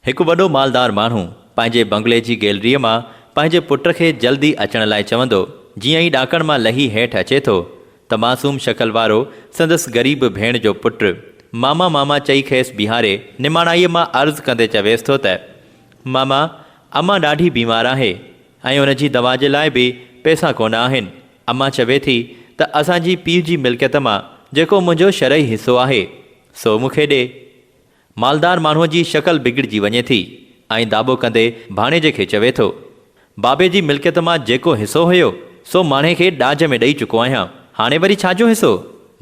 هڪ وڏو مالدار ماڻهو پنهنجي بنگلي جي گيلريء مان پنهنجي پٽ کي جلدي اچڻ لاء چوندو، جيئن ئي ڏاڪڻ مان لهي هيٺ اچي ٿو ته معصوم شڪل وارو سندس غريب ڀيڻ جو پٽ ماما ماما چئي کيس بيهاري نماڻائيء مان عرض ڪندي چويس ٿو ته ماما امان ڏاڍي بيمار آهي ۽ ان جي دوا جي لاء به پئسا ڪونه آهن امان چوي ٿي ته اسان جي پيء جي ملڪيت مان جيڪو منهنجو شرعي حصو آهي سو مون کي ڏي. مالدار ماڻهوء جي شڪل بگڙجي وڃي ٿي ۽ داٻو ڪندي ڀاڻيجي کي چوي ٿو، بابي جي ملڪيت مان جيڪو حصو هيو، سو ماڻهي کي ڏاج ۾ ڏئي چڪو آهيان، هاڻي وري ڇا جو حصو؟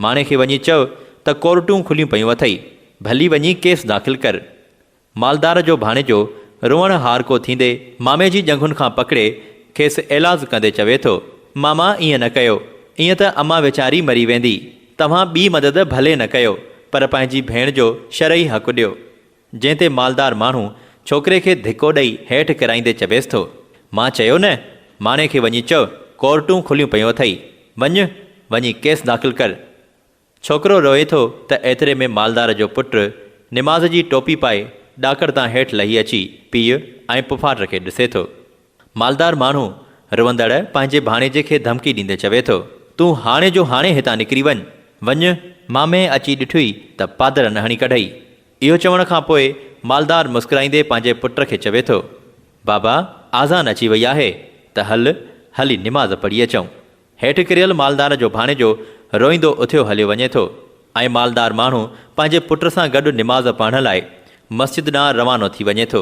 ماڻهي کي وڃي چئو ته ڪورٽون کليون پيون اٿئي، ڀلي وڃي ڪيس داخل ڪر. مالدار جو ڀاڻيجو روئڻ هارڪو ٿيندي مامي جي ڄنگهن کان پڪڙي کيس ايلاز ڪندي چوي ٿو، ماما ائين نه ڪيو، ائين ته امان ويچاري مري ويندي. توهان ٻي مدد ڀلي نه ڪيو پر پنهنجي ڀيڻ جو شرعي حق ڏيو. جنهن تي مالدار ماڻهو ڇوڪري کي ڌڪو ڏئي هيٺ ڪرائيندي چويس ٿو، مان چيو نه، ماڻي کي وڃي چئو ڪورٽون کليون پيون اٿئي، وڃ، وڃي ڪيس داخل ڪر. ڇوڪرو روئي ٿو ته ايتري ۾ مالدار جو پٽ نماز جي ٽوپي پائي ڏاڪڻ تان هيٺ لهي اچي پيء ۽ پڦاٽ کي ڏسي ٿو. مالدار ماڻهو روئندڙ پنهنجي ڀاڻيجي کي ڌمڪي ڏيندي چوي ٿو، تون هاڻي جو هاڻي هتان نڪري وڃ، وڃ! مامي اچي ڏٺئي ته پادر نه هڻي ڪڍئي. اهو چوڻ کان پوء مالدار مسڪرائيندي پنهنجي پٽ کي چوي ٿو، بابا آذان اچي وئي آهي ته هل، هلي نماز پڙهي اچون. هيٺ ڪريل مالدار جو ڀاڻيجو روئيندو اٿيو هليو وڃي ٿو ۽ مالدار ماڻهو پنهنجي پٽ سان گڏ نماز پڙهڻ لاء مسجد ڏانهن روانو ٿي وڃي ٿو.